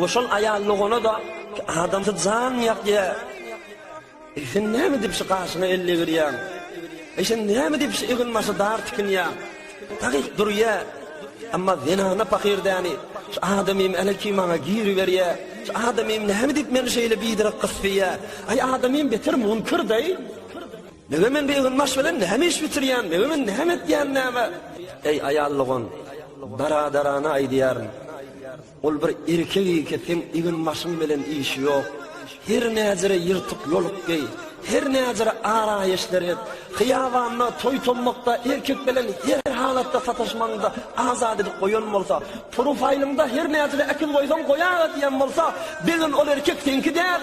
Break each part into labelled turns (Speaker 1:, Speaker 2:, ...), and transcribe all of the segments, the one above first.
Speaker 1: Bu şol aýal logona da adamda jan ýakýa. Sen näme diýip şu gaşyňa elle girýäň? E sen näme diýip şu egin başy dar tikinýäň? Taýyk durýa. Amma zenana pahyr däni. Şu adamym ele kim maňa giri berýä. Şu adamym näme diýip meni şeýle bidirek gysýa. Aý adamym beter munkir daý. Nega men bir egin baş bilen näme iş bitirýän? Nega men näme etýän näme? Eý aýal logon, dara-darana aýdýaryn. Ol bir erkek eke seň egin başyň bilen işi ýok. Her näzire ýyrtyk ýoluk geý, her näzire araýeşler et. Hyýabanda, toý-tommakda erkek bilen her halatda sataşmagyňda azat edip goýan bolsa, profaýlyňda her näzire äkiz goýsaň goýaga diýen bolsa, begin ol erkek seňki däl.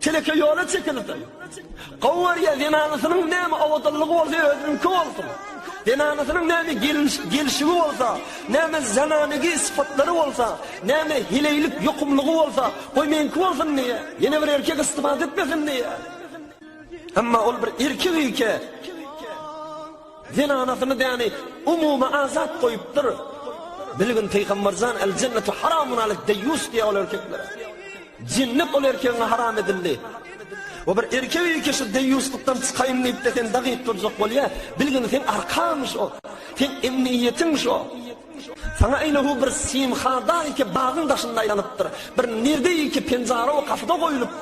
Speaker 1: Teleke ýola çekildi. Gowurýa zenanasynyň näme owadanlygy bolsa özüniňki bolsun. Zenanasynyň näme gelşigi bolsa, näme zananigi sypatlary bolsa, näme heleýlik ýokumlygy bolsa, goý meňki bolsun diýýä. Ýene bir erkek istifada etmesin diýýä. Emma ol bir erkek eke. Zenanasyny däni umumy azat goýupdyr. Bilgin Pygamberjan el jennetu haramun alik deýýus diýýär ol erkeklere. Jennet ol erkegiňe haram edildi. We bir erkek iki şu deýýuslykdan çykaýyn diýip-de sen dagyp durjak bolýar. Bilgin sen arkamyş o. Sen emniýetiň şo. Saňa eýle hu bir simhada iki bagyň daşynda aýlanypdyr. Bir nirde iki penjara we gapyda goýlupdyr.